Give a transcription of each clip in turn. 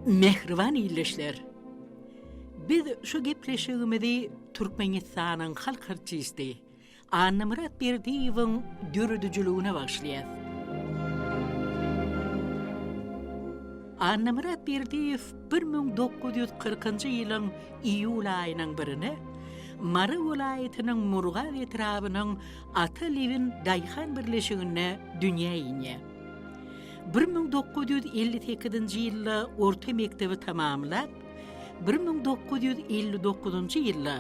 Mähriban ildeşler! Biz şu gepleşigimizi Türkmenistanyň halk artisti, Annamyrat Berdiýewiň döredijiligine bagyşlaýas. Annamyrat Berdiýew bir müň dokuz ýüz kyrkynjy ýylyň iýul aýynyň birine Mary welaýatynyň Murgap etrabynyň Ata Lewin daýhan birleşiginde dünýä inýär. Bir müň dokuz ýüz elli sekizinji ýylda orta mekdebi tamamlap, Bir müň dokuz ýüz elli dokuzynjy ýylda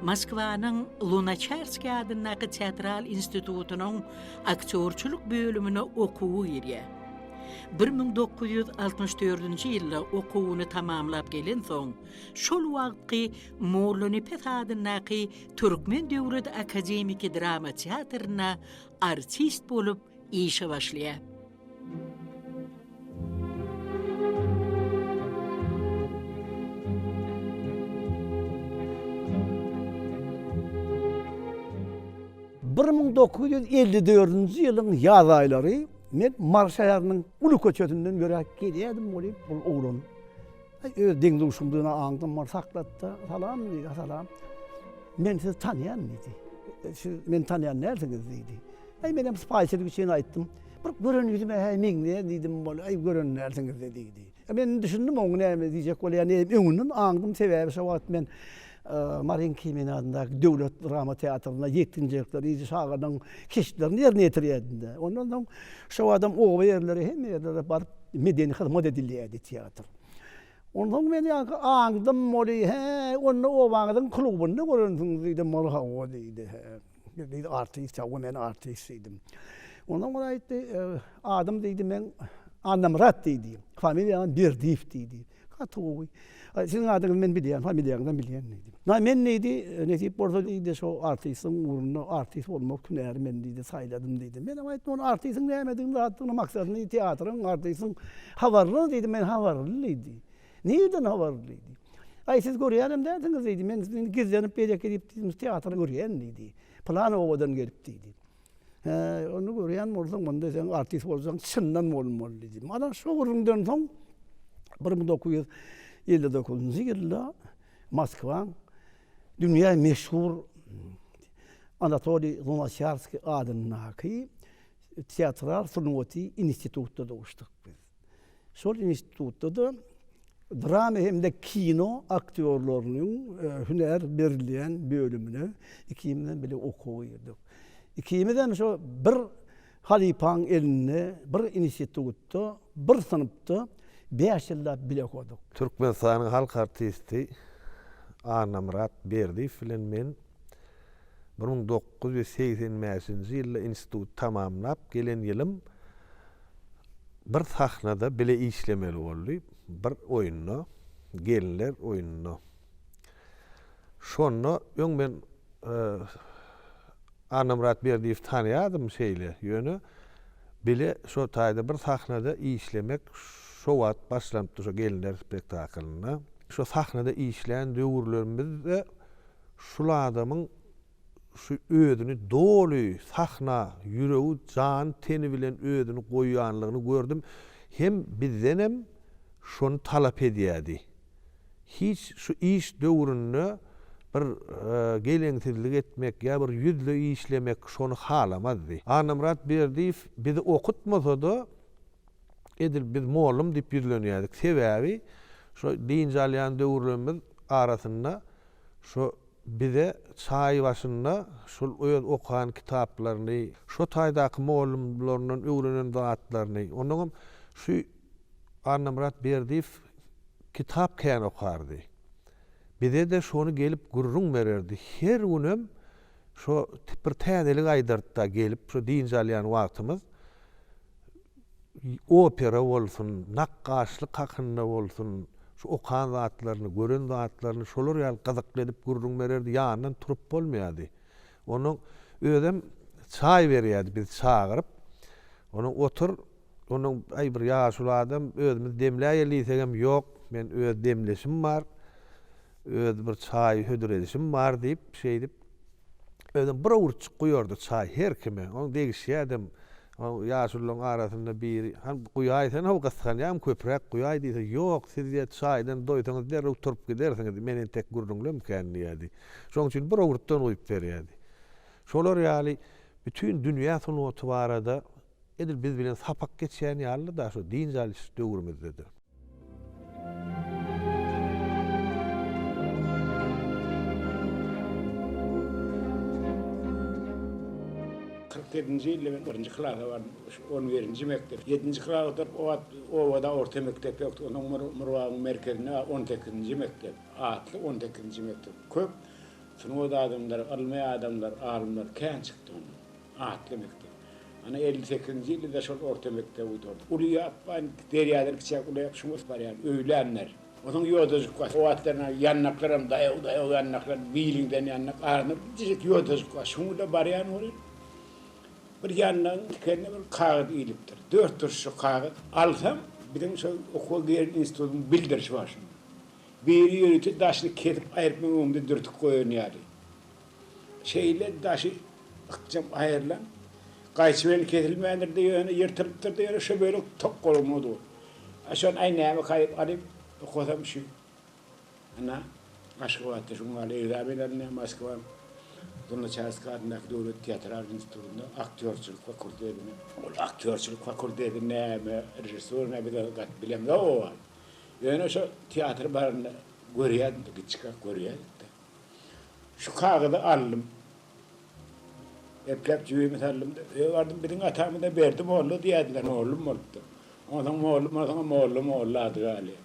Moskwanyň Lunaçarskiý adyndaky teatral institutynyň aktýorçylyk bölümine okuwa girýär. Bir müň dokuz ýüz altmyş dördünji ýylda okuwyny tamamlap gelensoň, şol wagtky Mollanepes adyndaky Türkmen döwlet akademiki drama teatrynda artist bolup işe başlaýar. Bir müň dokuz ýüz elli dördünji ýylyň ýaz aýlary men Mary şäheriniň uly köçesinden ýöräp gelýärdim welin, bu oglan Aý, öz deň-duşumdygyny aňdym, ol saklatda, Salam, diýdi, a salam. Men sizi tanýan, diýdi. Siz meni tanýan dälsiňiz, diýdi. Aý, menem sypaýyçylyk üçin aýtdym. Bir gören ýüzüme häý meňzeýär diýdim, ol, aý, gören dälsiňiz-de, diýdi. Men düşündim oň näme diýjek bolýanyny, öňünden aňdym, sebäbi şo wagt men Marin Kimin adyndaky döwlet drama teatrynda ýetginjekler, ýedi şagyryň keşplerini ýerine ýetirýärdi-de. Ondan soň şobadam oba ýerleri, hemme ýerlere baryp medeni hyzmat edilýärdi teatr. Ondan soň men ýaňky aňdym, ol diýdi, Hä, onda obaňyzyň klubynda görensiňiz diýdim. Ol hawa diýdi. Biz artist, hawa men artist diýdim. Ondan ol aýtdy, adym diýdi men Annamyrat diýdi. Familiýam Berdiýew diýdi. Gaty gowy. Siziň adyňyzy men bilýän, familiýaňyzam bilýän diýdi. Na men diýdi, nesip bolsa diýdi, şo artistiň ugrunda artist bolmak hünäri men diýdi, saýladym diýdi. Menem aýtdym, ony artistiň nämedigini, zatdygyny, maksadyny, teatryň, artistiň habarlymy diýdim, men habarly diýdi. Nireden habarly? diýdi. Aý, siz görýänem dälsiňiz, diýdi. Men indi gizlenip beýleki edip diýdim, teatry görýän, diýdi. Pylan obadan gelip, diýdi. Hä, ony görýän bolsaň, onda sen artist bolsaň, çyndan bolmaly, diýdi. Mana şo gürrüňden soň bir müň dokuz ýüz elli dokuzynjy ýylda Moskwaň dünýä meşhur Anatoliý Lunaçarskiý adyndaky teatral sungaty institutynda duşduk biz. Şol institutda-da drama hem-de kino aktýorlarynyň hünär berilýän bölümine ikimizem bile okuwa girdik. Ikimizem şo bir halypaň elinde, bir institutda, bir synpda bäş ýyllap bile okadyk. Türkmenistanyň halk artisti Annamyrat Berdiýew bilen men bir müň dokuz ýüz segsen bäşinji ýylda instituty tamamlap gelen ýylym bir sahnada bile işlemeli boldy, bir oýunda, gelinler oýununda. Şonda öň men e, Annamyrat Berdiýewi tanýardym şeýle, ýöne bile şo taýda bir sahnada işlemek şo wagt başlanypdy şo gelinler spektaklynda. Şo sahnada işlän döwürlerimizde şul adamyň şu özüni doly sahna, ýüregi, jany, teni bilen özüni goýýanlygyny gördüm. Hem bizdenem şony talap edýärdi. Hiç şu iş döwründe bir geleňsizlik etmek ýa bir ýüzle işlemek şony halamazdy. Annamyrat Berdiýew bizi okutmasa-da, edil biz mollum diýip ýüzlenýärdik. Sebäbi şo dynç alýan döwürlerimiz arasynda şo Bize çaý başynda şol öz okan kitaplaryny, şo taýdaky mugallymlaryndan öwrenen zatlaryny, ondan hem şu Annamyrat Berdiýew kitap kän okardy. Bize-de şony gelip gürrüň bererdi. Her günem şo bir täzelik aýdardy-da gelip, şo dynç alýan wagtymyz. opera bolsun, nakgaşlyk hakynda bolsun, şu okan zatlaryny, gören zatlaryny şolar ýaly gyzykly edip gürrüň bererdi, ýanyndan turup bolmaýardy. Onuň özem çaý berýärdi bizi çagyryp. Onuň otur, onuň aý bir ýaşuly adam, özümiz demläýeli diýsegem ýok, men öz demleşim bar, öz bir çaý hödür edişim bar diýip, şeýdip, özem bir owurtjyk guýardy çaý her kime, oň degişýädem. Soň ýaşulularyň arasynda biri, Han, guýaý sen how gysganýam, köpräk guýaý diýse, Ýok, siz ýa çaýdan doýsaňyz derrew turup gidersiňiz, men entek gürrüňlemkän diýýärdi. Şoň üçin bir owurtdan guýup berýärdi. Şolar ýaly bütin dünýä sungaty barada edil biz bilen sapak geçýän ýaly-da, şu dynç alyş döwrümizde-de. Kyrk ýedinji ýylda men birinji klasa bardym. On birinji mekdep. Ýedinji klas otaryp, o wagt obada orta mekdep ýokdy. Onda Mur, Murbagyň merkezinde on sekizinji mekdep, atly on sekizinji mekdep. Köp sungat adamlary, ylmy adamlar, alymlar kän çykdy onda. Atly mekdep. Ana elli sekizinji ýylda-da şol orta mekdebi gutaryp, uly ýapban derýadan kiçiräk ulaýyp şuňňus barýan, öýlänler. Onsoň ýodajyk bar. O wagtlaram ýandaklaram daýaw-daýaw ýandaklar, biliňden ýandak, arasynda birjijik ýodajyk bar. Şuňňuda barýan welin, bir ýandagyň tikenine bir kagyz ilipdir. Dört durşy kagyz. Alsam, biziň şol okuwa giren institutyň bildirişi bar şunda. Biri ýörite daşyny kesip aýryp, munuň öňünde dürtük goýan ýaly. Şeýle daşy ykjam aýrylan, gaýçy bilen kesilmändir-de ýöne, ýyrtylypdyr-da ýöne, şo bölek tok golagyna dur. A şony, aý, näme kaýyp alyp okasam şu, ana, Aşgabatda şu gün ýaly ekzamen alynýar, Moskwaň Lunaçarskiý adyndaky döwlet teatral institutynda aktýorçylyk fakultetine. Ol aktýorçylyk fakulteti näme, režissýor näme, biz ony gaty bilemzok oba. Ýöne şo teatr baranda görýädimdi, giçkak görýädik-de. Şu kagyzy aldym. Epläp jübimi saldym-da, öýe bardym. Biziň atamyza Berdi molla diýerdiler, mollum bolupdyr. Onsoň mollum, onsoňam molla, molla ady galýar.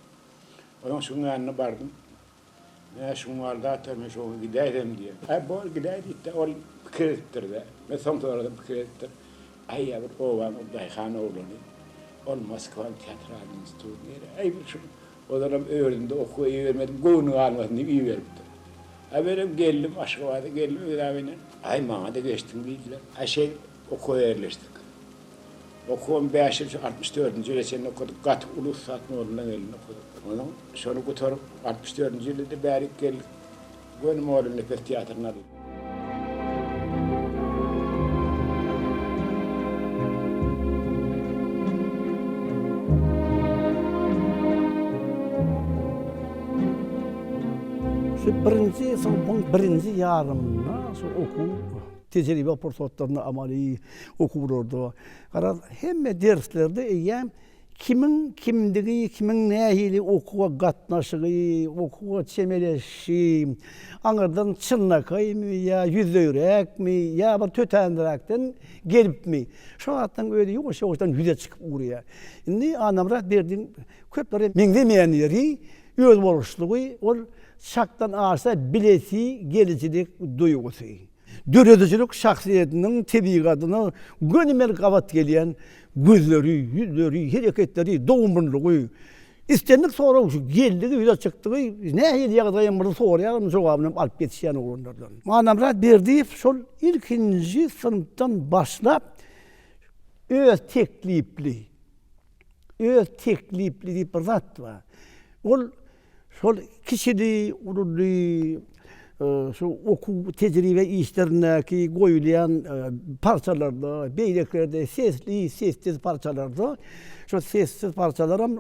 Onsoň şuň ýanyna bardym. Menä şuň bar zat-a, men şoňa gidäýsem diýýän. Aý, bor gidäý diýdi-de, ol pikir edipdir-de. Men soň soradym, pikir edipdir. Aýa bir obanyň daýhan oglany, ol Moskwanyň teatralnyň studýeri. Aý, bir şu Ozalam özünde okuwa ibermedim, göwni galmasyn diýip iberipdir. A menem geldim, Aşgabada geldim ekzamenden. Aý, maňa-da geçdiň diýdiler. A şeýdip, okuwa ýerleşdik. Okuwam bäş ýyl, şu altmyş dördünji ýyla çenli okadyk. Gaty uly ussat nolundan gelin okadyk. Onuň şony gutaryp, altmyş dördünji ýylydy, bärik geldik. Göni moda nepes teatryna dur. Şu birinji synpyň birinji ýarymynda şu okuw tejribe pursatlarynda amaly okuwlarda garaz hemme derslerde eýýäm Kimiň kimdigi, kimiň nähili okuwa gatnaşygy, okuwa çemeleşişi, aňyrdan çynlakaýmy ýa ýüzleýräkmi ýa bir tötänräkden gelipmi, şu zatlaryň özi ýuwaş-ýuwaşdan ýüze çykyp ugraýar. Indi Annamyrat Berdiň köplere meňzemeýän ýeri, özboluşlygy, ol çakdan aşa bilesi gelijilik duýgusy. Döredijilik şahsyýetiniň tebigatyna gönümel gabat gelýän gözleri, ýüzleri, hereketleri, dogumlylygy, islendik sorag geldigi, ýüze çykdygy nähili ýagdaýam bolsa soraýaryn, jogabynam alyp ýetişýän oglanlardan. Ganamyrat Berdiýew şol ilkinji synpdan başlap öz teklipli, öz teklipli diýip bir zat bar. Ol Şol kiçili, ululy şu okuw tejribe işlerindäki goýulýan parçalarda, beýlekilerde sesli, sessiz parçalarda, şol sessiz parçalaram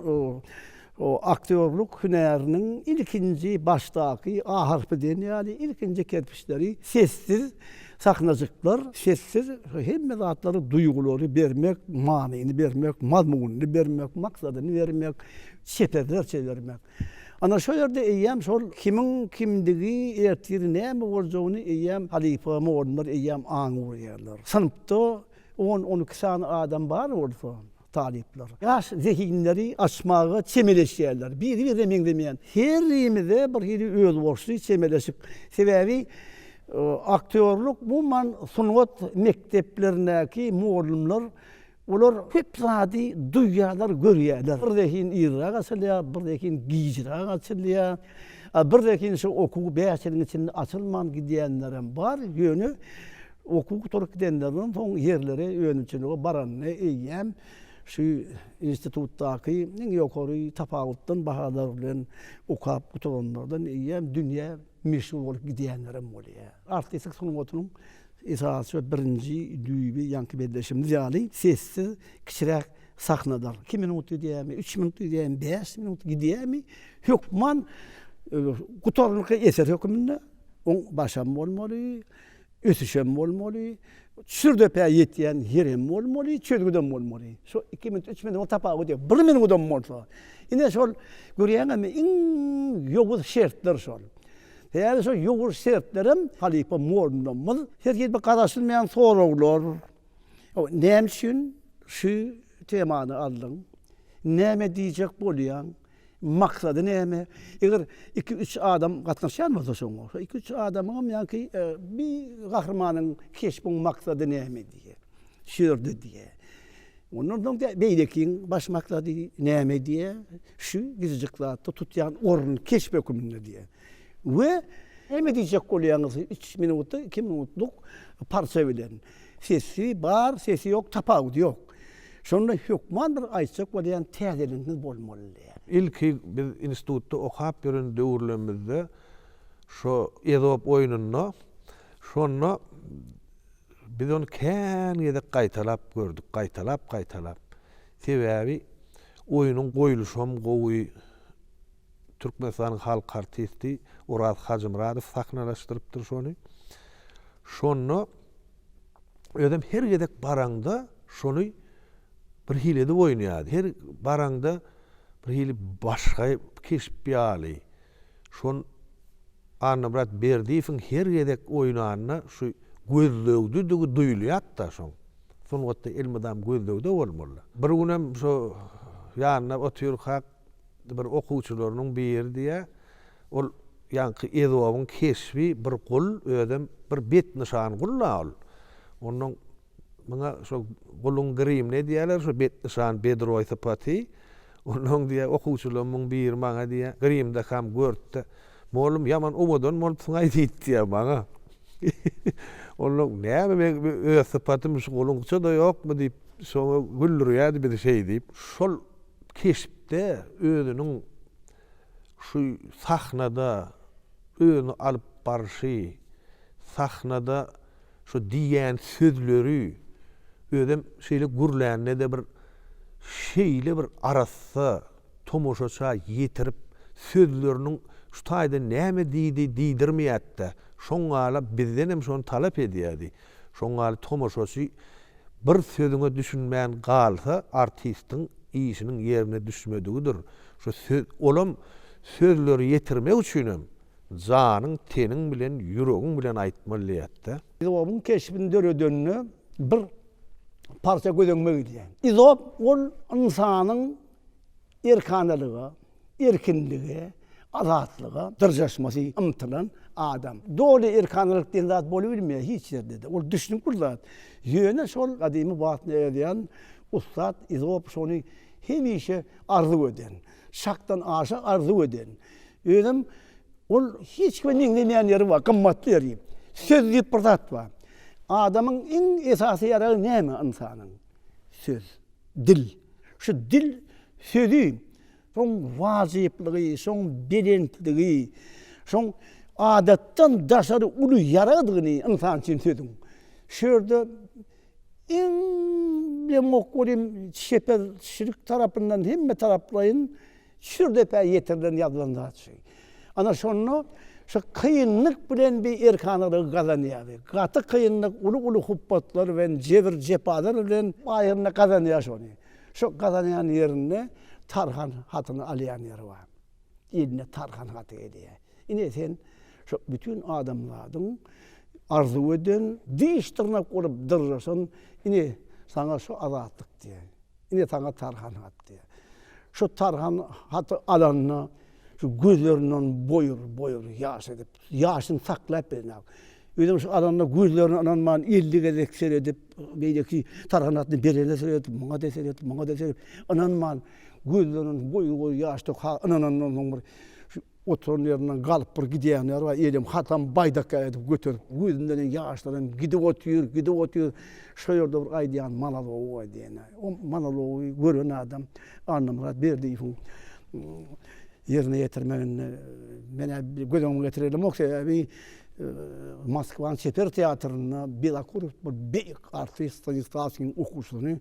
aktýorlyk hünäriniň ilkinji başdaky A harpy diýen ýaly ilkinji kerpiçleri sessiz sahnajyklar, sessiz hemme zatlary, duýgulary bermek, manyny bermek, mazmunyny bermek, maksadyny bermek, çeperler çepermek. Ana şo ýerde eýýäm şol kimiň kimdigi, ertiri näme boljagyny eýýäm halypa mugallymlar eýýäm aňy urýarlar. Synpda on, on iki sany adam bar bolsa, talyplar ýaş zehinleri açmaga çemeleşýärler. Biri-birine meňzemeýän, herimize bir hili özboluşly çemeleşik. Sebäbi aktýorlyk umuman sungat mekdeplerindäki mugallymlar Olar köp zady duýýarlar, görýärler. Bir zehin irräk açylýar, bir zehin gijräk açylýar. A bir zehin şu okuw bäş ýylyň içinde açylman gidýänlerem bar. Ýöne okuw gutaryp gidenlerinden soň ýerleri önümçilige baranda eýýäm şu institutdaky iň ýokary tapawutdan bahalar bilen okap gutaranlardan eýýäm dünýä meşhur bolup gidýänlerem bolýar. Artistlik sungatynyň esasy we birinji düýbi ýaňky belleşimiz ýaly sessiz kiçiräk sahnadyr. Iki minut gidýärmi, üç minut gidýärmi, bäş minut gidýärmi, hökman gutarnykly eser hökmünde oň başam bolmaly, Ösüşem bolmaly, sürdepä ýetýän ýerem bolmaly, çözgüdem bolmaly. Şu iki minut, üç minut tapawut ýok. Bir minudam bolsa. Ine şol görýäňizmi, iň ýowuz şertler şol. Sebäbi şol ýowuz şertlerem halypa mugallymlarymyz her hili garaşylmaýan soraglar. Näme üçin şu temany aldyň? Näme diýjek bolýaň? Maksady näme? Eger iki-üç adam gatnaşýan bolsa şoňa, şo iki-üç adamyňam ýa-ki bi gahrymanyň keşbiň maksady näme diýýä, şu ýerde diýýä. Ondan soň diýýä, beýlekiň baş maksady näme diýýä, şu gijejik zatda tutýan orny, keşp höküminde diýýä. We näme diýjek bolýaňyz üç minutda, iki minutluk parça bilen. Sesi bar, sesi ýok, tapawudy ýok. Şonda hökman bir aýtjak bolýan täzeliginiz bolmalydy. Ilki biz institutda okap ýören döwürlerimizde şo Ezop oýnunda şonda biz ony kän gezek gaýtalap gördük, gaýtalap-gaýtalap. Sebäbi oýnuň goýluşam gowy. Türkmenistanyň halk artisti Oraz Hajymyradow sahnalaşdyrypdyr şony. Şonda özem her gezek baraňda şony bir hili edip oýnaýardy. Her baraňda bir hili başga keşp ýaly. Şon Annamyrat Berdiýewiň her gezek oýnanda şu gözlegdidigi duýulýardy-da şoň. Sungatda elmydam gözlegde bolmaly. Bir günem şo ýanynda otyrkak Bir okuwçylarynyň biri diýýär, Ol ýaňky Ezobyň keşbi bir gul, özem bir betnyşan gul-la ol. Ondan muňa şo guluň grimine diýýärler, şo betnyşan bedroý sypaty. Ondan diýýär, okuwçylarymyň biri maňa diýýär, Grimdakam gör-de, mollum, ýaman owadan bolupsyň-aý diýip diýýär maňa. Ondan, Näme, meň öz sypatym şu guluňça-da ýokmy diýip, şoňa güldürýärdi bizi şeý diýip. Şol. keşpde özüniň şu sahnada özüni alyp barşy, sahnada şu diýýän sözleri, özem şeýle gürlände-de bir şeýle bir arassa tomaşaça ýetirip, sözleriniň şu taýda näme diýdi diýdirmeýärdi-de, şoňňala bizdenem şony talap edýärdi. Şoňňaly tomaşaçy Bir sözüňe düşünmän galsa artistiň işiniň ýerine düşmedigidir şu söz olam sözleri ýetirmek üçinem janyň teniň bilen ýüregiň bilen aýtmaly diýätdä. Izobyň keşbini döredende bir parça göz öňüme gelýär. Izob ol ynsanyň erkanalyga, Erkinlige, azatlyga dyrjaşmasy ymtylan adam. Doly erkanalyk diýen zat bolubilmeýär hiç ýerde-de. Ol düşünip bir zat. Ýöne şol gadymy wagtynda ýazýan ussat Izop şony hemişe arzuw eden. Şakdan aşa arzuw eden. Özem ol hiç kime meňzemeýän ýeri bar, gymmatly ýeri. Söz diýip bir zat bar. Adamyň iň esasy ýaragy näme ynsanyň? Söz. Dil. Şu dil sözi şoň wajyplygy, şoň belentligi, şoň adatdan daşary uly ýaragdygyny ynsan üçin sözüň. Şu ýerde iň deňokgul hem çeper çilik tarapyndan hemmetaraplaýyn Şür depä ýetirilen ýazylan zat şü. Ana şonda şü kynlyk bilen bi erkanalygy gazanýar bi. Gaty kynlyk, uly-uly hupbatlar bilen, jebir-jepalar bilen aýyrynda gazanýar şony. Şo gazanýan ýerinde Tarhan hatyny alýan ýeri bar. Eline Tarhan haty gelýär. Ine sen şo bütin adamzadyň arzuw eden, diş-dyrnak bolup dyryşan, ine saňa şo azatlyk diýýär. Ine saňa tarhan hat diýýär. Şu tarhan haty alanda şu gözlerinden boýur, boýur ýaş edip, ýaşyny saklap bilenok. Özem şu alanda gözlerine ynanman elli gezek seredip, beýleki tarhan hatyny berene seredip, muňa-da seredip, muňa-da seredip, ynanman gözlerinden boýur-boýur ýaş döküp, ha ynanandan soň bir Oturan ýerinden galyp bir gidýän ýeri bar, elem hatam baýdak ýaly edip göterip, gözünden ýaşlaram gidip otyr, gidip otyr. Şo ýerde bir aýdýan monology bar diýenä. O monology gören adam Annamyrat Berdiýewiň ýerine ýetirmeginde menä göz öňüme getirer ýalamok, sebäbi Moskwanyň çeper teatrynda Bilakurow bir beýik artist Stanislawskiň okuwçysyny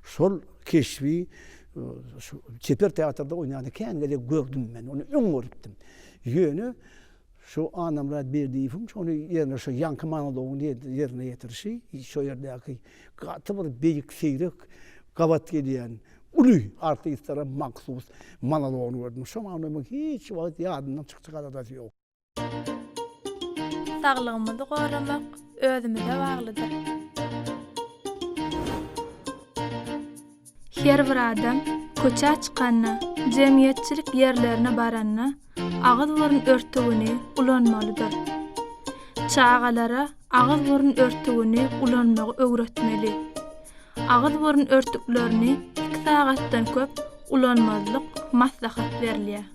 şol keşbi Şu çeper teatrda oýnany kän gezek gördüm men, ony öň görüpdim. Ýöne şu Annamyrat Berdiýewiň şony ýerine şu ýaňky monologyny ýerine ýetirişi, şo ýerdäki gaty bir beýik, seýrek gabat gelýän uly artistlere mahsus monologyny gördüm. Şoňa ony men hiç wagt ýadymdan çykjak adadasy ýok. Saglygymyzy goramak özümize baglydyr. Her bir adam köçä çykanda, jemgyýetçilik ýerlerine baranda agyz-burun örtügini ulanmalydyr. Çagalara agyz-burun örtügini ulanmagy öwretmeli. Agyz-burun örtüklerini iki sagatdan köp ulanmazlyk maslahat berilýär.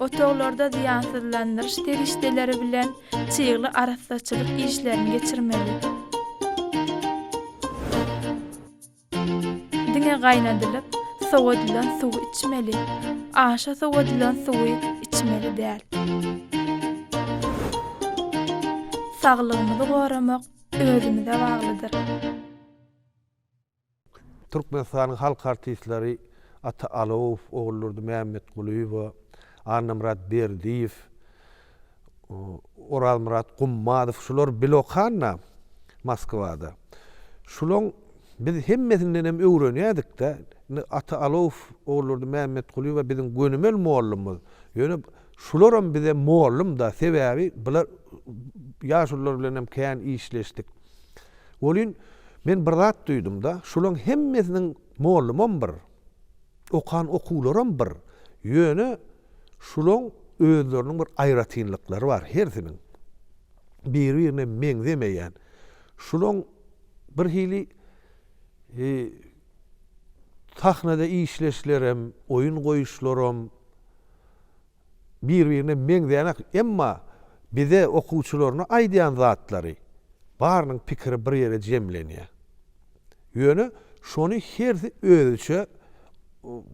Otaglarda zyýansyzlandyryş serişdeleri bilen çygly arassaçylyk işlerini geçirmeli. Diňe gaýnadylyp, sowadylan suwy içmeli. Aşa sowadylan suwy içmeli däl. Saglygymyzy goramak özümize baglydyr. Türkmenistanyň halk artistleri Ata Alowow, Oguldurdy Mämmetgulyýewa, Annamyrat Berdiýew, Orazmyrat Gummazow şular bil okan-da Moskwada. Şulaň biz hemmesinden hem öwrenýädik-de. Indi Ata Alowow, Oguldurdy Mämmetgulyýewa biziň gönümel mollumyz. Ýöne şularam bize mollum-da. Sebäbi bular ýaşulular bilen hem kän işleşdik. Welin, men bir zat duýdum-da, şulaň hemmesiniň mollumam bir, okan okuwlaram bir, ýöne şulaň özleriniň bir aýratynlyklary bar, hersiniň biri-birine meňzemeýän, şulaň bir hili sahnada işleşlerem, oýun goýuşlaram, bir-birine meňzeýänak, emma bize okuwçylaryna aýdýan zatlary, barynyň pikiri bir ýere jemlenýär. Ýöne şony hersi özüçe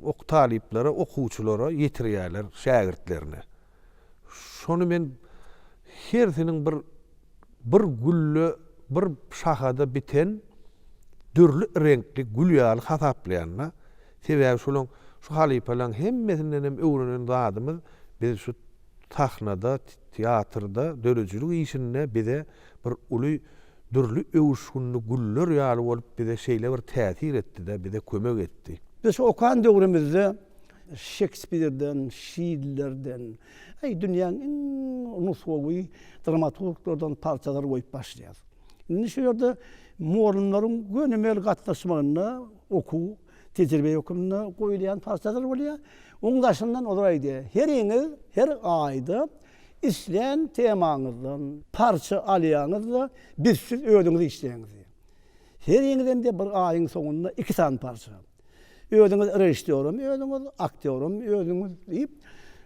ok talyplara, okuwçylara ýetirýärler, şägirtlerine. Şony men hersiniň bir bir gülle, bir şahada biten dürli reňkli gül ýaly hasaplaýan-da. Sebäbi şolaň, şu halypalaň hemmesindenem öwrenen zadymyz biz şu sahnada, teatrda, döredijilik işinde bize bir uly dürli öwüşginli güller ýaly bolup bize şeýle bir täsir etdi-de, bize kömek etdi. Biz şu okan döwrümizde Şekspirden, Şillerden, aý dünýäň iň nusgawy dramaturglardan parçalary goýup başlaýarys. Indi şu ýerde Morunlaryň gönümel gatnaşmagynda, Okuw, tejribe hökmünde goýulýan partalar bolýar. Oň daşyndan olar aýdýar, heriňiz her aýda islän temaňyzdan parça alýaňyz-da, biz siz özüňiz işleýäňiz diýýär. Heriňizem diýýär, bir aýyň soňunda iki sany parça. Özüňiz režissýoram özüňiz, aktýoram özüňiz diýip,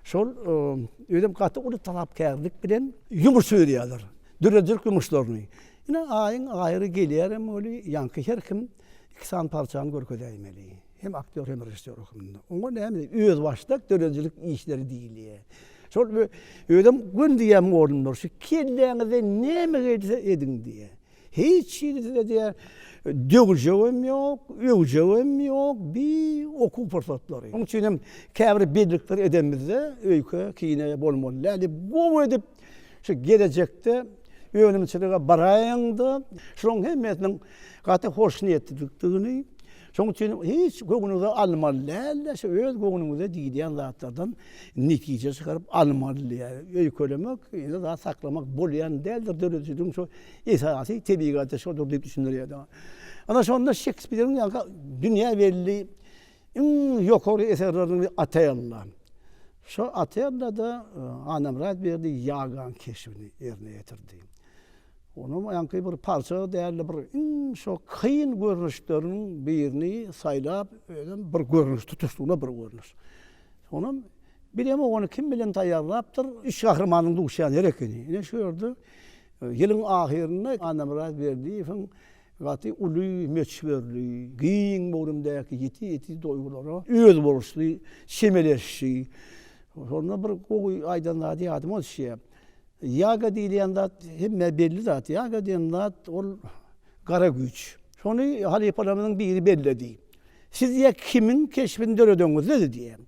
şol özem gaty uly talapkärlik bilen ýumuş berýärler, döredijilik ýumuşlaryny. Ine, aýyň aýry gelýärem weli, ýaňky her kim iki sany parçany görkezäýmeli. Hem aktýor, hem režissýor hökmünde. Oňa näme diýip, özbaşdak döredijilik işleri diýilýär. Şol bir özüm gün diýýän oglumlar, şu kelläňizde näme gelse ediň diýýär. Hiç hili size diýýär, döwüljegem ýok, öwjegem ýok, bi okuw pursatlary. Onuň üçin hem käbir bellikleri edenimizde öýke, kine bolmaly däl diýip, gowy edip şu gelejekde önümçilige baraýyň-da, şolaryň hemmesiniň Gaty hoşniýetlilikdigini, şoň üçin hiç göwnüňize almaly däl-de, şu öz göwnüňize diýilýän zatlardan netije çykaryp almaly diýýär. Öýkelemek, ýene zat saklamak bolýan däldir, döredijiligiň şu esasy tebigaty şodur diýip düşündirýär. Ana şonda Şekspiriň ýa-da dünýä belli iň ýokary eserleriniň biri Otella. Şo Otellada Annamyrat Berdi Ýagan keşbini ýerine ýetirdi. Onam ýaňky bir parça dälde bir iň şo kyn görnüşleriniň birini saýlap özem bir görnüş tutuşlygyna bir görnüş. Onam bilemok ony kim bilen taýýarlapdyr, üç gahrymanyň duşýan ýeri ekeni. Ine şu ýerde ýylyň ahyrynda Annamyrat Berdiýewiň Gaty uly möçberli, giň göwrümdäki ýiti-ýiti duýgulara özboluşly çemeleşdi. Şonda bir gowy aýdan zady ýadyma düşýär. Ýaga diýilýän zat hemmä belli zat. Ýaga diýen zat ol gara güýç. Şony halypalarymyzyň biri belledi. Siz diýýär, kimiň keşbini döredeňiz-le diýýär.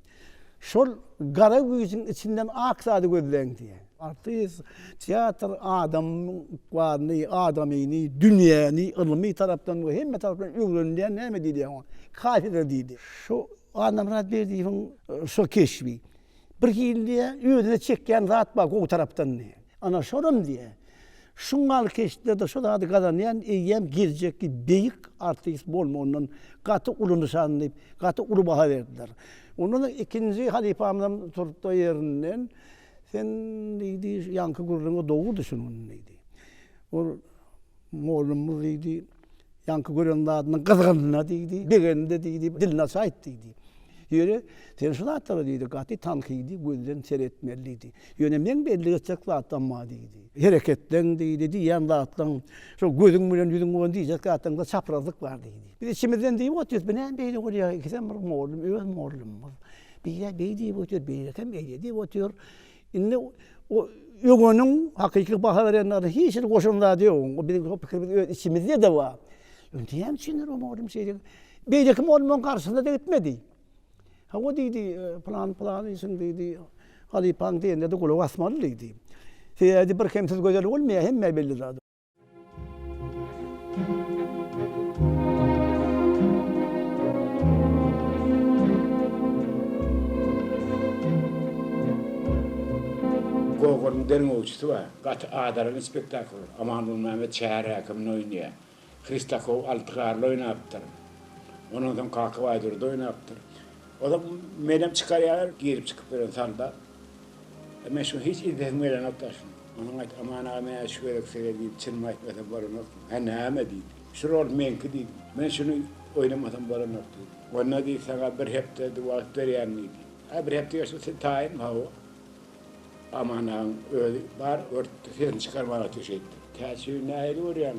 Şol gara güýjüň içinden ak zady gözleýin diýýär. Artist, teatr adamyň ykbalyny, adamyny, dünýäni ylmy tarapdan we hemme tarapdan öwrenilýän näme diýilýär oňa? Kafedra diýilýär. Şu Annamyrat Berdiýewiň şol keşbi. Bir hili diýýä, özüne çekýän zat bar gowy tarapdan diýýä. Ana şolam diýýä, şu gal keşdede şu zady gazanýan eýýäm geljekki beýik artist bolmagyndan gaty uly nyşan diýip, gaty uly baha berdiler. Ondan soň ikinji halypamyzam turupdy ýerinden, Sen diýdi, ýaňky gürrüňi dogrudy şunuň diýdi. Ol mollumyz diýdi, Ýaňky gören zadynyň gyzgynyna diýdi, begenine diýdi, dilini açy aýt diýdi. Ýöne sen şu zatlara diýdi, gaty tankydy gözden seretmeli diýdi. Ýöne meň bellik etjek zatym bar diýdi. Hereketleň diýdi, diýýän zatlaň, şol gözüň bilen ýüzüň bolan diýjek zatlaňda çaprazlyk bar diýdi. Biz içimizden diýip otyrys, bu näme beýle bolýar, ikisem bir mollum, öz mollumyz. Birä beý diýip otyr, birem eýle diýip otyr. Indi o ögeniň hakyky baha berenlerine hiç hili goşan zady ýok. O biziň şo pikirimiz öz içimizde-de bar. Indi näme üçindir o mugallym şeýdip, beýleki mugallymlaryň garşysyna-da gitmedi. Hawa diýdi, pylan pylan işiň diýdi, halypaň diýenine-de gulak asmaly diýdi. Sebäbi birkemsiz gözel bolmaýar, hemmä belli zat. Goguryň derňewçisi bar. Gaty adalan spektakl. Amanmulmämmet şäher häkimini oýnaýar. Hristakow Alty garly oýnapdyr. Ondan soň Kakabaý Durdy oýnapdyr. Ozal menem çykarýarlar, girip-çykyp ýören soldat. Men şuny hiç idehim gelenok daşyny. Onuň aýt, Aman aga men-ä şu gezek size diýip çynymy aýtmasam bolanokmy? Hä näme? diýdi. Şu rol meňki diýdim. Men şuny oýnamasam bolanok diýdim. Onda diýdi saňa bir hepde wagt berýän diýdi. Hä bir hepde geçse sen taýyn? Hawa. Aman agaň özi bar örtdi sesini çykarman otur şeýtdi. Täçi nähili görýäň?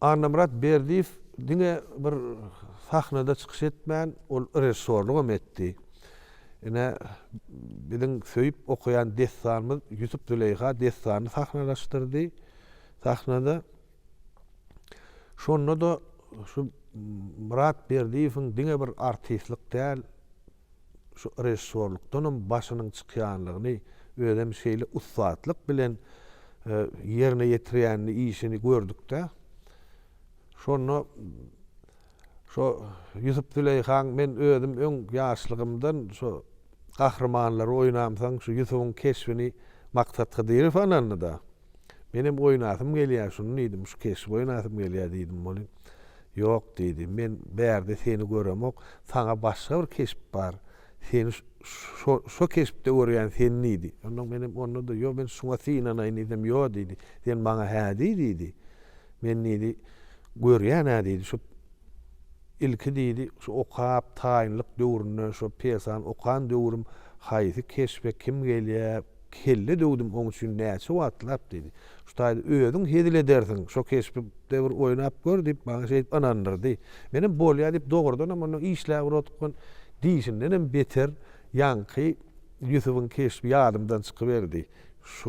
Annamyrat Berdiýew diňe bir sahnada çykyş etmän, ol režissýorlyk hem etdi. Ine, biziň söýüp okaýan dessanymyz Ýusup-Züleýha dessanyny sahnalaşdyrdy sahnada. Şonda-da şu Myrat Berdiýewiň diňe bir artistlik däl, şu režissýorlukdanam başynyň çykýanlygyny, özem şeýle ussatlyk bilen ýerine ýetirýänini, işini gördük-de. Şonda. Şo Ýusup Züleýhaň men özüm öň ýaşlygymdan şo gahrymanlary oýnamsoň şu Ýusubyň keşbini Maksat Hydyrow anandyda. Menem oýnasym gelýä şuny diýdim şu keşbi oýnasym gelýä diýdim ony. Ýok diýdi men bärde seni göremok saňa başga bir keşp bar seni şo şo keşpde görýän sen diýdi. Ondan menem ondada ýo men şuňa synanaýyn diýsem ýo diýdi sen maňa hä diý diýdi. Men diýdi, Görýän-ä diýdi, şu ilki diýdi, şu okap, taýynlyk döwründe şo pesan okan döwrüm, haýsy keşbe kim gelýä, kelle döwdüm oň üçin näçe wagtlap diýdi. Şu taýda özüň hezil edersiň, şo keşpde bir oýnap gör diýip, maňa şeýdip ynandyrdy. Menem bolýa diýip, dogrudanam onda işläbir otgan diýşindenem beter ýaňky Ýusubyň keşbi ýadymdan çykyberdi.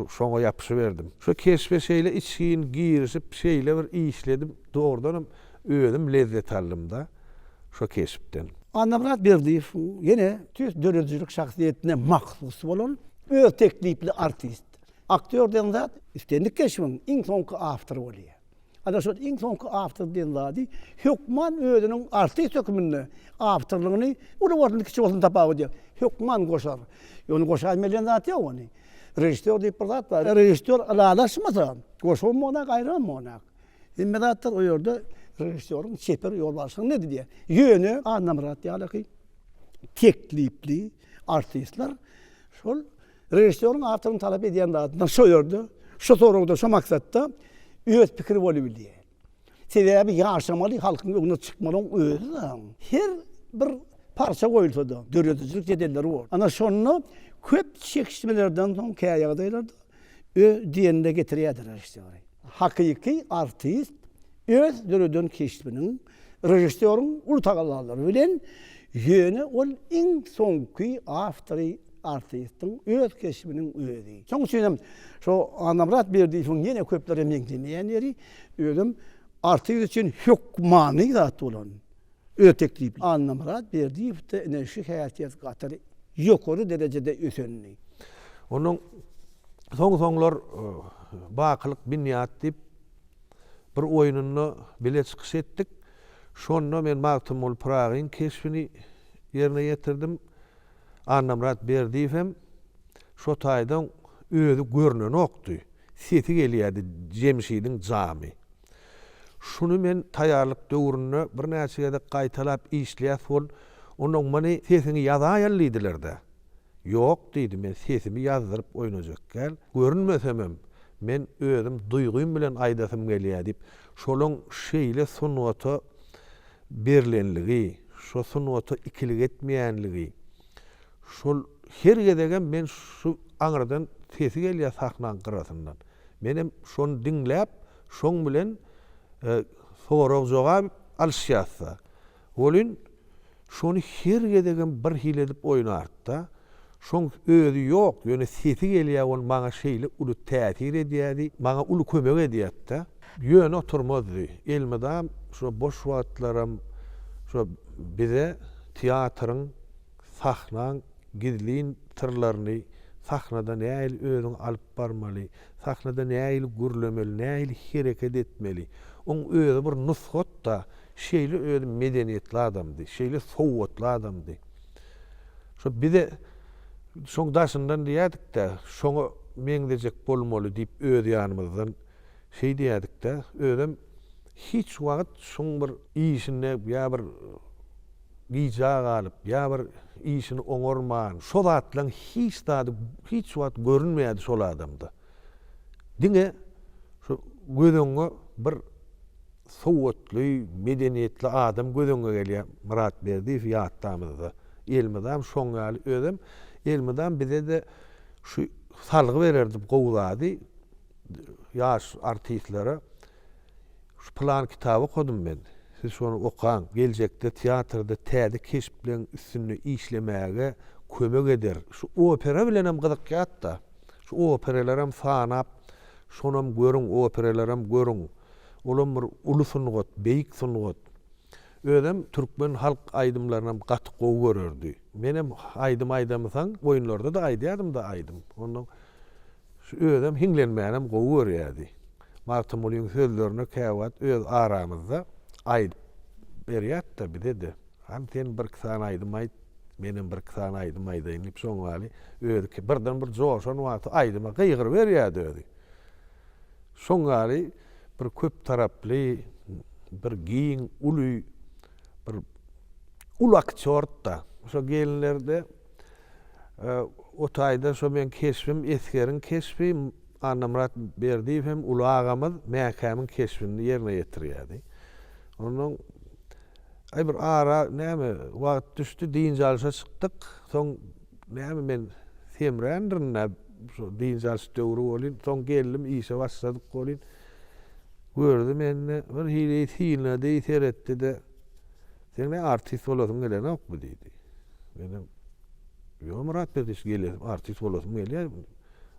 Şoňa ýapyşyberdim. Şu keşbe şeýle içgin girişip, şeýle bir işledim, dogrudanam özüm lezzet aldym-da şo keşpden. Annamyrat Berdiýewiň ýene tüýs döredijilik şahsyýetine mahsus bolan öz teklipli artist, aktýor diýen zat islendik keşbiň iň soňky awtory bolýar. Adaşat iň soňky awtor diýen zady hökman özüniň artist hökmünde awtorlygyny uly bolsun, kiçi bolsun tapawudy ýok. Hökman goşar. Ýöne goşaýyn berýän zat ýok ony. Režissýor diýip bir zat bar. Režissýor ylalaşmasa, goşabam bolýar, gaýrabam bolýar. Hemme zatlar o ýerde režissýoryň çeper ýolbaşçylygynyň elinde diýýär. Ýöne Annamyrat ýalyky teklipli artistler şol Režissýoryň awtoryň talap edýän zadyna şo ýerde, şo soragda, şo maksatda öz pikiri bolubilýär. Sebäbi ýaşamaly, halkyň öňüne çykmalyň özi-de her bir parça goýulsa-da, döredijilik jedelleri bor. Ana şonda köp çekişmelerden soň kä ýagdaýlarda öz diýenine getirýär-de režissýory. Hakyky artist öz döreden keşbiniň Režissýoryň uly tagallalary bilen, ýöne ol iň soňky awtory artistiň öz keşbiniň özi. Şoň üçin hem şo Annamyrat Berdiýewiň ýene köplere meňzemeýän ýeri, özem artist üçin hökmany zat bolan, öz teklipli. Annamyrat Berdiýewde ine şu häsiýet gaty ýokary derejede ösendi. Onuň soň-soňlar Bakylyk binýat diýip, bir oýnunda bile çykyş etdik. Şonda men Magtymguly Pyragyň keşbini ýerine ýetirdim. Annamyrat Berdiýew hem şo taýdan özi görnenokdy. Sesi gelýärdi Jemşidiň jamy. Şuny men taýýarlyk döwründe birnäçe gezek gaýtalap işleýäs bol. Onnoň Many sesiňi ýazaýaly diýdiler-de. Ýok, diýdi, men sesimi ýazdyryp oýnajekgäl, görünmesemem, men özüm duýgym bilen aýdasym gelýär diýip, şolaň şeýle sungata berlenligi, şo sungata ikilik etmeýänligi, şol her gezegem men şu aňyrdan sesi gelýär sahnaň gyrasyndan. Menem şony diňläp, şoň bilen sorag-jogap alyşýas-da. Welin, şony her gezegem bir hili edip oýnardy-da, şoň özi ýok, ýöne sesi gelýär, ol maňa şeýle uly täsir edýärdi, maňa uly kömek edýärdi-de. Ýöne oturmazdy, elmydam şo boş wagtlaram şo bize teatryň, sahnaň gizlin syrlaryny, sahnada nähili özüňi alyp barmaly, sahnada nähili gürlemeli, nähili hereket etmeli, oň özi bir nusgat-da, Şeýle özü medeniýetli adamdy, şeýle sowatly adamdy. Şo bize şoň daşyndan diýerdik-dä, şoňa meňzejek bolmaly diýip öz ýanymyzdan şeý diýerdik-dä. Özem hiç wagt şuň bir işinde ýa bir gijä galyp, ýa bir işini oňarman, şo zatlaryň hiç zady hiç wagt görünmeýärdi şol adamda. Diňe şu göz öňüňe bir sowatly, medeniýetli adam göz öňüňe gelýär. Myrat Berdiýew ýatdamyzda. Elmydam şoň ýaly, özem elmydam bize-de şu salgy bererdi gowy zady, ýaş artistlere. Şu pylan kitaby okadym men, siz şony okaň, geljekde teatrda täze keşpleriň üstünde işlemäge kömek eder. Şu opera bilenem gyzykýat-da. Şu operalaram sanap, şonam görüň, operalaram görüň. Olam bir uly sungat, beýik sungat. Özem türkmen halk aýdymlarynam gaty gowy görerdi. Menem aýdym aýdamysan, oýunlarda-da aýdýardym-da aýdym. Ondan şu özem hiňlenmänem gowy görýärdi. Magtymgulyň sözlerini käwagt öz aramyzda aýdyp berýäs-de bize-de. Hany sen birki sany aýdym aýt, menem birki sany aýdym aýdaýyn diýip, şoňňaly özi birden bir joşan wagty aýdyma gygyryberýärdi özi. Şoň ýaly bir köp taraply, bir giň, uly, bir uly aktýord-da. Şo gelinlerde o taýda şo meň keşbim, esgeriň keşbi, Annamyrat Berdiýew hem uly agamyz Mäkämiň keşbini ýerine ýetirýärdi. Onnoň Aý bir ara näme wagt düşdi, dynç alyşa çykdyk. Soň näme men semrändirin-ä. Şol dynç alyş döwri bolyn. Soň geldim, işe başladyk bolyn. Gördi mende, birhili synlady, seretdi-de, Seň näme artist bolasyň gelenokmy? diýdi. Menem, Ýok, Myrat Berdiç, gelen, artist bolasym gelýär.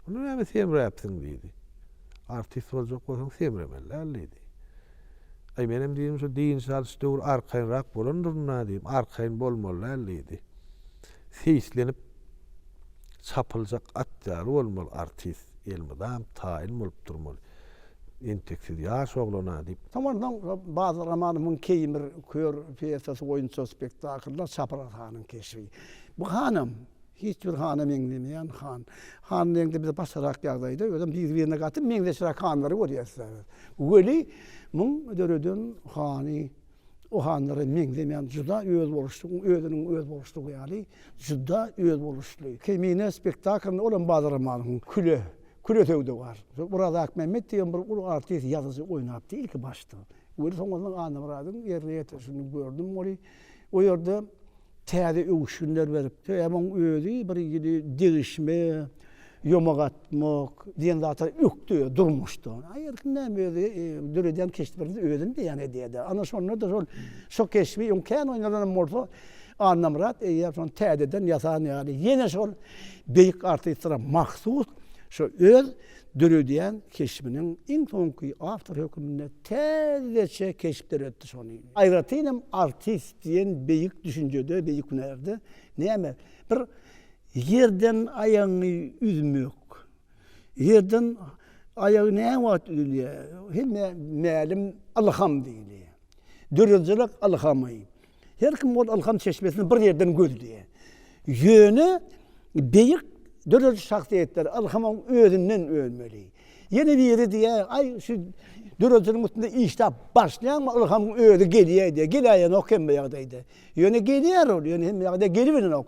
Onda näme semräpsiň? diýdi. Artist boljak bolsaň, semremeli däl, diýdi. Aý, menem diýdim, şu dynç alyş döwri arkaýynrak bolandyr-da, diýdim. Arkaýyn bolmaly däl, diýdi. Seýislenip çapyljak at ýaly bolmaly artist elmydam taýyn bolup durmaly entek siz ýaş oglana diýip. Şondan soň Badyr Amanowyn Keýim bir kör pýesasy boýunça spektaklda Çapraz hanyň keşbi. Bu hanam hiç bir hana meňzemeýän han. Han reňde bize başgarak ýagdaýda özem biri birine gaty meňzeşräk hanlary görýäs biz. Weli muň döreden hany o hanlara meňzemeýän juda özboluşly, özüniň özboluşlygy ýaly juda özboluşly. Kemine spektaklynda ol hem Badyr Ramanowyň Küle, Küle söwdagär. Şol Oraz Akmämmet diýen bir uly artist, ýazyjy oýnapdy ilki başda. Welin soňradan Annamyradyň erni ýetişini gördüm weli, o ýerde Täze öwüşginler beripdi. Hem oň özi bir ýyly degişme, ýomak atmak diýen zata ökdi durmuşda. Aý erkim näme özi döredýän keşplerimiz özüni beýan edýär-dä. Ana şonda-da şol şu keşbi öň kän oýnalanam bolsa Annamyrat eýýäm şony täzeden ýasan ýaly ýene şol beýik artistlara mahsus şu öz döredýän keşbiniň iň soňky awtory hökmünde Täzeçe keşpler etdi şony. Aýratyn hem artist diýen beýik düşünjede, beýik hünärde näme, bir ýerden aýagyňy üzmek, ýerden aýagy näme wagt üzülýär, hemmä mälim ylham diýilýär. Döredijilik ylhamy. Her kim ol ylham çeşmesini bir ýerden gözleýär. Ýöne beýik dörediş şahsyýetler ylhamyň özünden ölmeli. Ýene biri diýýär, aý şu döredijiniň üstünde işläp başlaýaňmy, ylhamyň özi gelýär diýýär. Geläýenok hemme ýagdaýda. Ýöne gelýär ol, ýöne hemme ýagdaýda gelibilenok.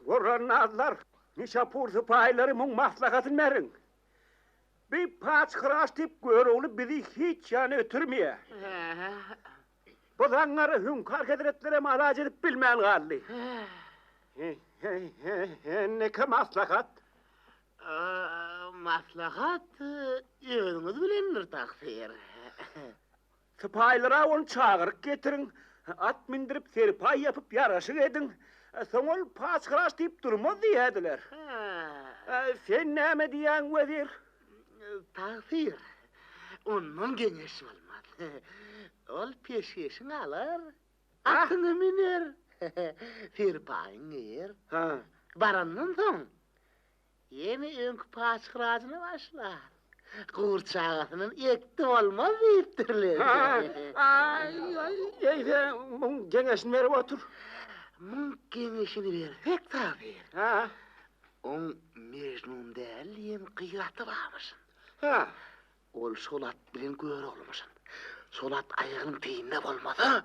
Gorrannazlar, Nişapur sypaýylary muň maslahatyny beriň. Bi paçhyraş tip görogly bizi hiç ýana ötürmeýär. Bu zaňňary Hüňkar hezretlerem alaç edip bilmän galdy. Indiki maslahat? Maslahat özüňiz bilendir, taksyr. Sypaýylara ony çagyryp getiriň, at mindirip, serpaý ýapyp, ýaraşyk ediň. Soň ol patyşalar diýip durmaz diýerdiler. Sen näme diýýäň, wezir? Tagsyr, ondan geňeş bolmaz. Ol peşgeşiňi alar, atyňy müner, serpaýyňy geýer. Barandan soň, Ýene öňki paçyrajyny başlar. Gür çagasynam ekdi bolmaz diýipdirler. Aý-aý, eýse muň geňeşini berip otur. Muň geňeşini bersek tabir. Hä? Oň Mejnun däl diýen gyraty barmyşyn. Hä? Ol şol at bilen göroglamyşyn. Şol at aýagynyň teýinde bolmasa,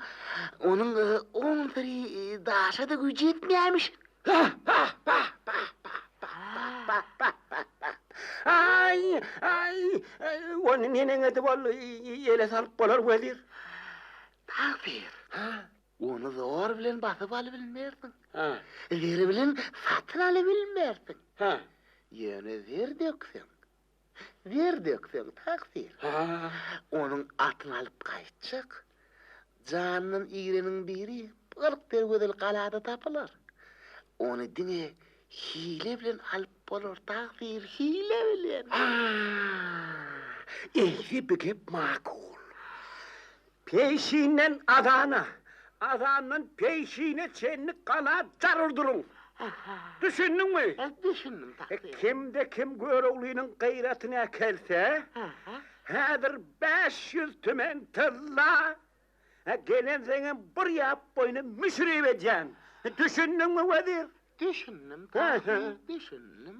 onuň on bir daşa-da güýji ýetmeýämişin. Aý, aý, ony neneňedi bol ýele salyp bolar, wezir? Tagsyr, ony zor bilen basyp alybilmersiň. Zer bilen satyn alybilmersiň. Ýöne zer dökseň, Zer dökseň takdyr, onuň atyny alyp gaýtjak. Jandan igreniň biri kyrk derwezeli galada tapylar. Ony diňe hile bilen alyp bolar, takdyr, hile bilen. Eýse, bu gep makul. Peýşinden azana, azandan peýşine çenli gala jaryl duruň. Düşündiňmi? Düşündim, takdir. Kimde kim Göroglynyň gyratyny äkelse, häzir bäş ýüz tümen tylla, gelenseňem bir ýap boýuna müşrip edýän. Düşündiňmi, wezir? Düşündim, takdir, düşündim.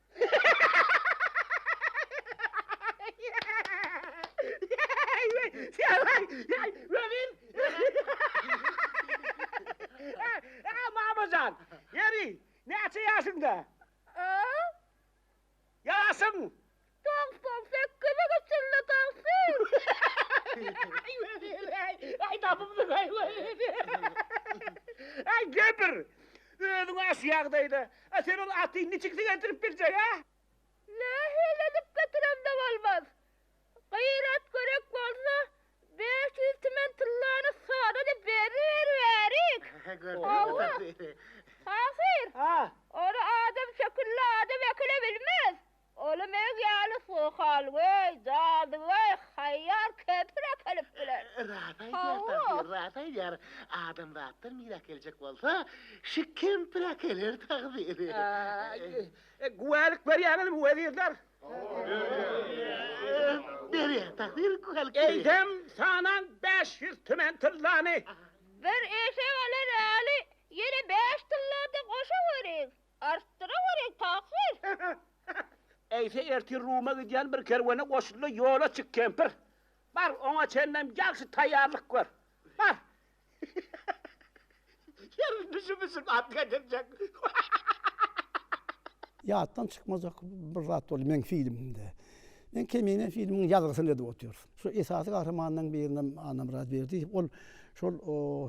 Mamajan, ýeri, näçe ýaşyňda? Ýaşyň? Togsan sekize geçeli togsan. Aý tapypsyň aý. Aý gepir. Özüň aşy ýagdaýda A sen ol aty niçik siňerdirip biljek, a? Nähili edip getiremde bolmaz? Gyrat gerek bolsa, bäş ýüz timen tyllany sodada beriberiberik. Hawa, pahyr, ony adam şekilli adam ekile bilmez. Oly meg ýaly sohal weý jady weý haýýar kepir äkelip biler. Rast aýdýar tagsyr rast aýdýar adamzatdan mir äkeljek bolsa şi kempir äkeler tagsyr. Güwälik berýäňizmi wezirler. Berýär tagsyr güwälik. Eýsem sanaň bäş ýüz tümen tyllany. Bir eşek alan äli ýene bäş tyllada goşaweriň. Artdyra görýä pahyr. Eýse ertir Ruma gidýän bir kerwene goşul-da, ýola çyk, kempir. Bar, oňa çenlem ýagşy taýýarlyk gör. Bar. Ýeri düşüp-üsüp at getirjek. Ýatdan çykmajak bir zat boldy meň filmimde. Men Kemine filminiň ýazgysyny edip otyrys. Şu esasy gahrymanlaryň birinem Annamyrat Berdiýew ol şol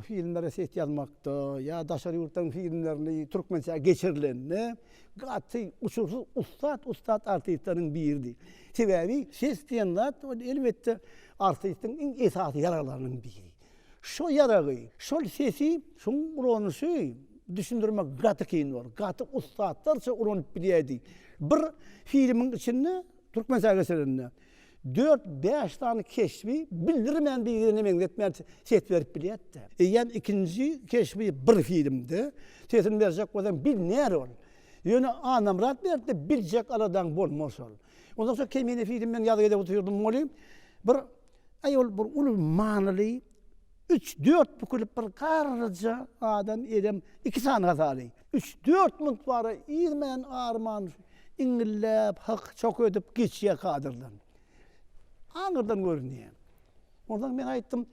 filmlere set ýazmakda ýa daşary ýurtlaryň filmlerini türkmençä geçirilende gaty gusursyz ussat ussat artistleriň biridi. Sebäbi ses diýen zat ol elbetde artistiň iň esasy ýaraglarynyň biri. Şo ýaragy, şol sesi, şoň ulanyşy düşündirmek gaty kyn bor. Gaty ussatlarça ulanyp bilýädi. Bir filmiň içinde türkmençä geçirende. Dört-bäş sany keşbi bildirmän birine meňzetmän ses berip bilýärdi. Eýýäm ikinji keşbi bir filmde sesini berjek bolsaň bilner ol. Ýöne Annamyrat berdi, biljek aladaň bolmaz ol. Ondan soň Kemine filmi men ýazgy edip otyrdym moly. Bir aýol bir uly manyly üç-dört bükülip bir garryja adam edem iki sany hasaly. Üç-dört munt bara iýmän arman iňňilläp, hyk-çok edip geçýär kadrdan. Aňyrdan görünýär. Onsoň men aýtdym,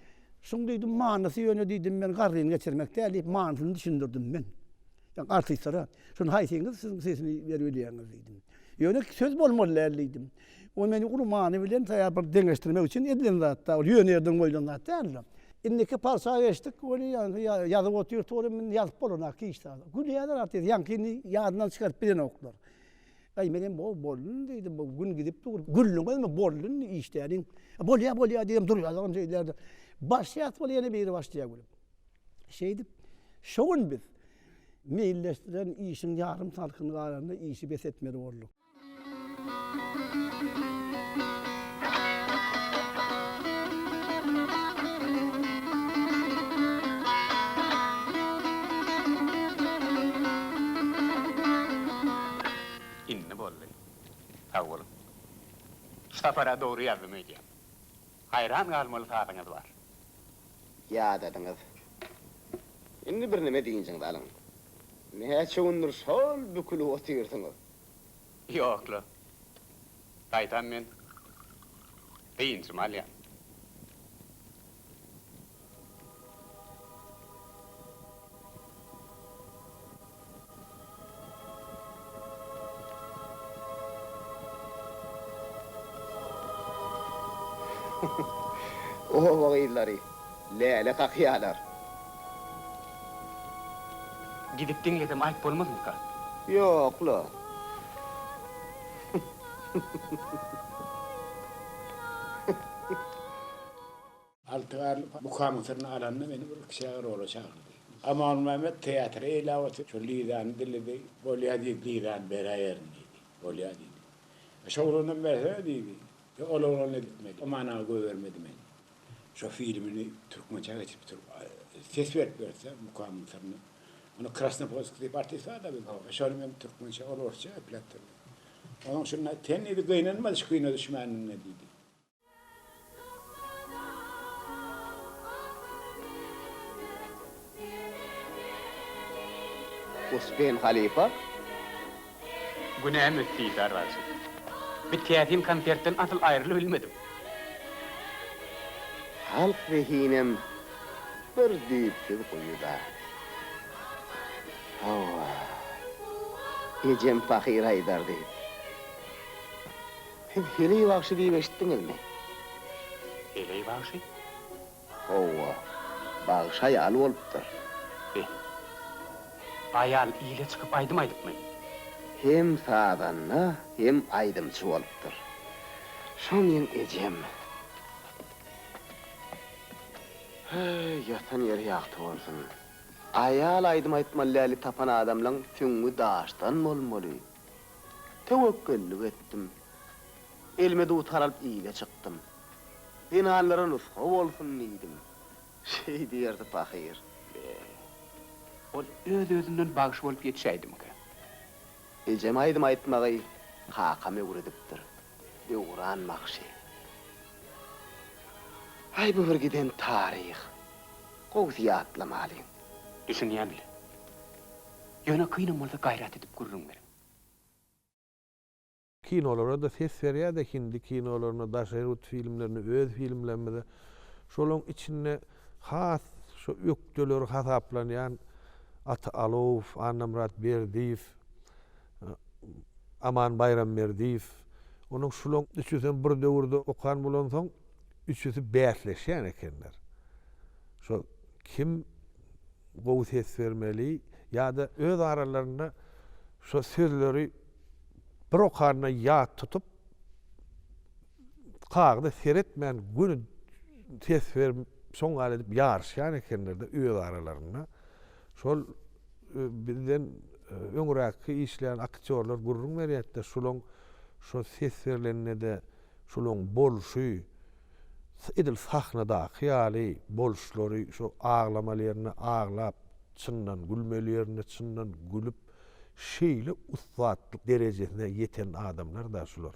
Şuň diýdim, manysy ýöne diýdim, men garryny geçirmek däl diýip, manysyny düşündirdim men. Ýa artistlara, şuny haýsyňyz siziň sesini berip bilýäňiz diýdim. Ýöne söz bolmaly däl diýdim. Ol meni uly many bilen taýýar bir deňeşdirmek üçin edilen zatda, ol ýöne ýerden goýlan zat däldi. Indiki parça geçdik, weli ýaňky ýazyp otyr turum indi ýazyp bolanok hiç zady. Gülýärler artist, ýaňkyny ýadyndan çykaryp bilenoklar. Aý menem bo boldy indi diýdim, bu gün gidip dur, güldiňizmi boldy indi işläniň. Bolýa bolýa diýdim durýarlaryn şeýdilerde. Başlaýas weli ýene biri başlaýar gülüp. Şeýdip şu gün biz meýilleşdiren işiň ýarym salkyny galanda işi bes etmeli bolduk. Indi boldy. Sag boluň. Şu sapar-a dogry ýazdym öýdýän. Haýran galmaly sazyňyz bar. Ýadadyňyz. Indi birneme dynjyňyzy alyň. Näçe gündür şol bükülip otyrsyňyz? Ýok-la. Gaýtam men dynjymy alýan. Oba gyzlary läle kakýarlar. Gidip diňlesem aýp bolmazmyka? Ýok-la. Alty garly bukaň syryny alanda meni bir kiçä rola çagyrdy. Amanmämmet teatry eýläp oturyp şol Lizany diledi. Bolýa diýdi, Lizany beräýerin diýdi. Bolýa diýdi. Şo oglanam berse diýdi. Ýok, ol oglan editmeli. Aman aga goýbermedi meni. Şo filmini türkmençä geçirip dur. Ses berip berse mukamyň syryny. Ony Krasnopolsk diýip artist bar da bizde. Şony men türkmençe ol orsça epläp dur. Onuň şunda sen diýdi gynanma şu kino düşmänligiňe diýdi. Uspen halypa. Günäm ötdi Isar bagşy. Bi täsin konsertden asyl aýrylybilmedim. Halk zehinem bir düýpsüz guýy zat. Hawa. Ejem pahyr aýdardy. Siz Heleý bagşy diýip eşitdiňizmi? Heleý bagşy? Howwa, bagşy aýaly bolupdyr. Be. Aýal ile çykyp aýdym aýdypmy? Hem sazanda, hem aýdymçy bolupdyr. Şo meň ejem. Heý, ýatan ýeri ýagty bolsun. Aýal aýdym aýtmaly däli tapan adamlaň süňňi daşdan bolmaly. Töwekgellik etdim. Elime dutar alyp ile çykdym. Zenanlara nusga bolsun diýdim. Şeýdip ýördi pahyr. Be, ol öz-özünden bagşy bolup ýetişäýdimikä? Ejem aýdym aýtmagy kakam öwredipdir. Döwran bagşy. Aý, bu bir giden taryh. Gowusy ýatlamalyň. Düşünýän-le. Ýöne kynam bolsa gaýrat edip gürrüň beriň. Kinolara-da ses berýär-de hindi kinolaryna, daşary ýurt filmlerine, öz filmlerimize. Şolaryň içinde has şo ökdeleri hasaplanýan Ata Alowow, Annamyrat Berdiýew, Aman Baýramberdiýew. Onuň şularyň üçüsem bir döwürde okan bolansoň, üçüsi bäsleşýän ekenler. Şo kim gowy ses bermeli ýa-da öz aralarynda şo sözleri Bir okanyna ýat tutup, kagyza seretmän göni ses berip, soň gal edip ýaryşýan ekenler-de öz aralarynda. Şol bizden öňräkki işleýän aktýorlar gürrüň berýärdi-de, şulaň şo ses berlende-de şulaň bolşy, edil sahnadaky ýaly bolşlary, şo aglamaly ýerinde aglap, çyndan gülmeli ýerinde çyndan gülüp, Şeýle ussatlyk derejesine ýeten adamlar da şular.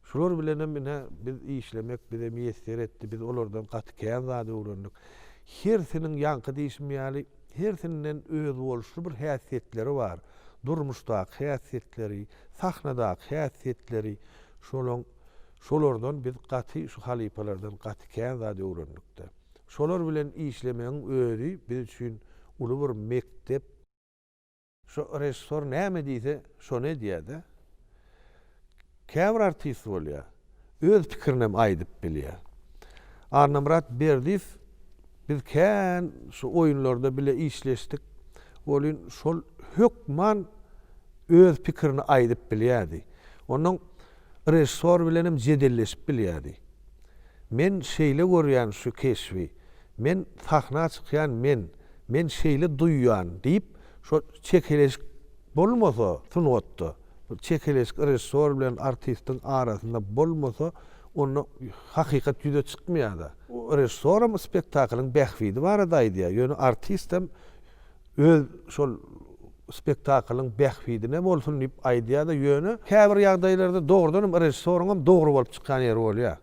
Şular bilenem ine biz işlemek bize miýesser etdi, biz olardan gaty kän zat öwrendik. Hersiniň ýaňky diýşim ýaly, hersinden özboluşly bir häsiýetleri bar. Durmuşdaky häsiýetleri, sahnadaky häsiýetleri şolaň şolardan biz gaty şu halypalardan gaty kän zat öwrendik-de. Şolar bilen işlemegiň özi biz üçin uly bir mekdep. Şo režissor näme diýse şony edýädä. Käbir artist bolýa öz pikirinem aýdyp bilýä. Annamyrat Berdiýew biz kän şu oýunlarda bile işleşdik. Welin şol hökman öz pikirini aýdyp bilýädi. Onnoň Režissor bilenem jedelleşip bilýärdi. Men şeýle görýän şu keşbi, men sahna çykýan men, men şeýle duýýan diýip şo çekeleşik bolmasa sungatda, çekeleşik režissor bilen artistiň arasynda bolmasa onda hakykat ýüze çykmaýarda. Režissoram spektaklyň bähbidi barada aýdýar, ýöne artistem Öz şol spektaklyň bähbidine bolsun diýip aýdýar-da, ýöne käbir ýagdaýlarda dogrudanam režissoryňam dogry bolup çykýan ýeri bolýar.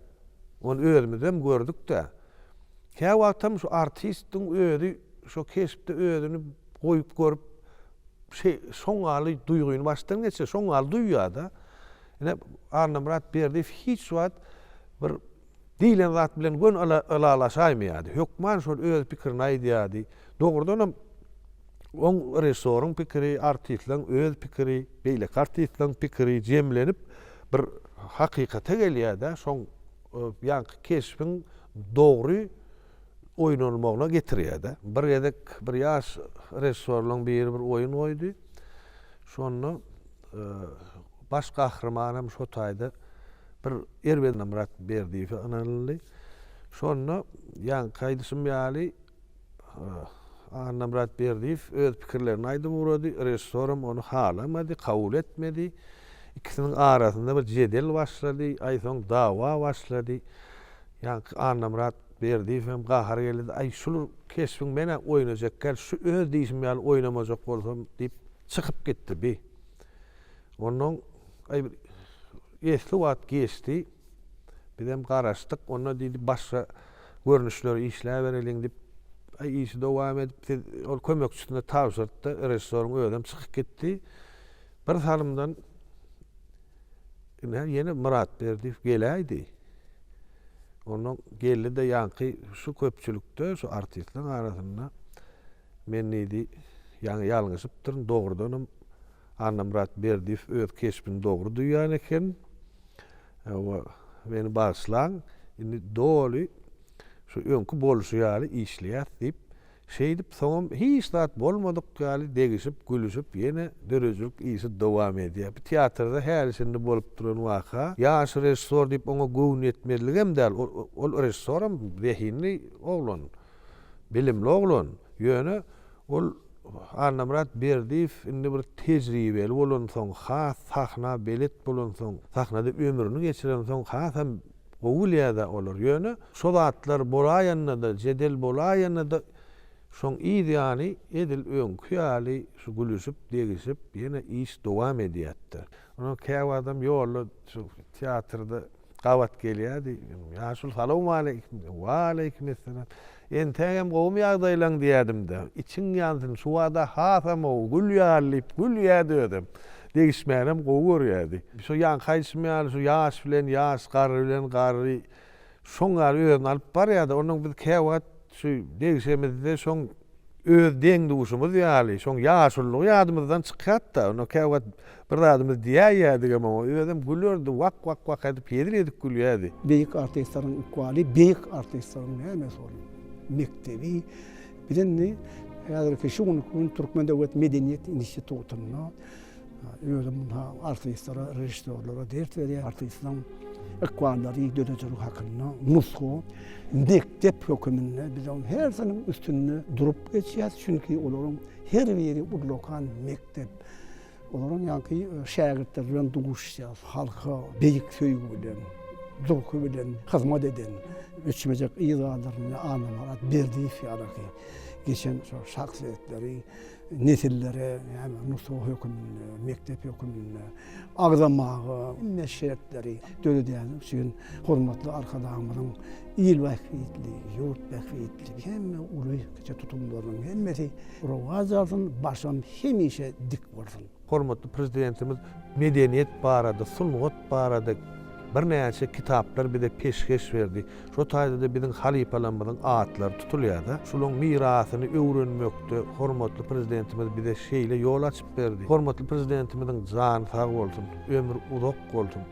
Ony özümizem gördük-de. Käwagtam şu artistiň özi şo keşpde özüni goýup görüp, şe şoňaly duýgyny başdan geçirýär, şoňaly duýýar-da. Ine, Annamyrat Berdiýew hiç wagt bir Diýlen zat bilen göni ylalaşaýmy ýa-da? Hökman şol öz pikirini aýdýardy. Dogrudanam, oň režissýoryň pikiri, artistleň öz pikiri, beýleki artistleň pikiri jemlenip bir hakykata gelýär-de, şoň ýaňky keşbiň dogry oýnalmagyna getirýär-de. Bir gezek bir ýaş režissýorlaň biri bir oýun goýdy. Şonda baş gahryman hem şo taýda. Bir erbedine Myrat Berdiýewe ynanyldy. Şonda, ýaňky aýdyşym ýaly, Annamyrat Berdiýew öz pikirlerini aýdyp ugrady, režissoram ony halamady, kabul etmedi. Ikisiniň arasynda bir jedel başlady, aý, soň dawa başlady. Ýaňky Annamyrat Berdiýewem gahary geldi-de, Aý, şul keşbiň men-ä oýnajak däl, şu öz diýşim ýaly oýnamajak bolsam diýip, çykyp gitdi bi. Onnoň. Aý, bir esli wagt geçdi. Bizem garaşdyk. Onda diýdi, başga görnüşleri işläbereliň diýip, aý, işi dowam edip, siz ol kömekçisine tabşyrypdy. Režissýoryň özem çykyp gitdi. Bir salymdan ine, ýene Myrat Berdiýew geläýdi. Onda geldi-de, ýaňky şu köpçülikde, şu artistleriň arasynda men diýdi, ýaňy ýalňyşypdyryn, dogrudanam, Annamyrat Berdiýew öz keşbini dogry duýan eken we Meni bagyşlaň, indi doly şu öňki bolşy ýaly işleýäs diýip, şeýdip soňam hiç zat bolmadyk ýaly degişip, gülüşip ýene döredijilik işi dowam edýär. Bu teatrda häli-şindi bolup duran waka, ýaş režissor diýip oňa göwün ýetmezligem däl, ol režissoram zehinli oglan, bilimli oglan, ýöne Ol Annamyrat Berdiýew indi bir tejribeli bolansoň, has sahna belet bolansoň, sahnada ömrüni geçirensoň hasam gowy bilýär-dä olar. Ýöne şo zatlar bolaýanda-da, jedel bolaýanda-da şoň yz ýany edil öňki ýaly şu gülüşip, degişip ýene iş dowam edýärdi. Onam käwagtam ýolda şu teatrda gabat gelýärdi. Ýaşuly salawmaleýkim! Waleýkimessalam! Entägem gowumy ýagdaýlaň diýädim-de, içiň ýansyn, şu bada hasam-ow, gül ýaly diýip gülýärdi özem. Degişmänem gowy görýärdi. Şo ýaňky aýdyşym ýaly, şu ýaş bilen ýaş, garry bilen garry şoň ýaly özüni alyp barýardy. Onnoň biz käwagt şu degişemizde şoň öz deň-duşumyz ýaly, şoň ýaşulygy ýadymyzdan çykýardy-da. Onnoň käwagt. Bir zadymyz diýäýýädigem oňa, özem gülerdi, wak-wak-wak edip hezil edip gülýärdi. Beýik artistleriň ykbaly, beýik artistleriň nämesi bolup, mekdebi, biz indi häzirki şu günki gün Türkmen döwlet medeniýet institutynda özüm munha artistlere, režissýorlara ders berýän artistleriň ykballary, döredijilik hakynda nusga mekdep höküminde biz onuň hersiniň üstünde durup geçýäs, çünki olaryň her biri ullakan mekdep. Olaryň ýaňky şägirtleri bilen duşýas, halka beýik söýgi bilen, durky bilen hyzmat eden öçmejek yz galdyran Annamyrat Berdiýew ýaly geçen şol şahsyýetleri nesillere hem nusga höküminde, mekdep höküminde agzamaga şertleri döredýänligi üçin hormatly Arkadagymyzyň Il bähbitli, ýurt bähbitli, hemme uly, kiçi tutumlarynyň hemmesi rowaç alsyn, başym hemişe dik bolsun! Hormatly Prezidentimiz medeniýet barada, sungat barada birnäçe kitaplar bize peşgeş berdi. Şo taýda-da biziň halypalarymyzyň atlary tutulýar-da. Şolaryň mirasyny öwrenmekde hormatly Prezidentimiz bize şeýle ýol açyp berdi. Hormatly Prezidentimiziň jany sag bolsun, ömri uzak bolsun!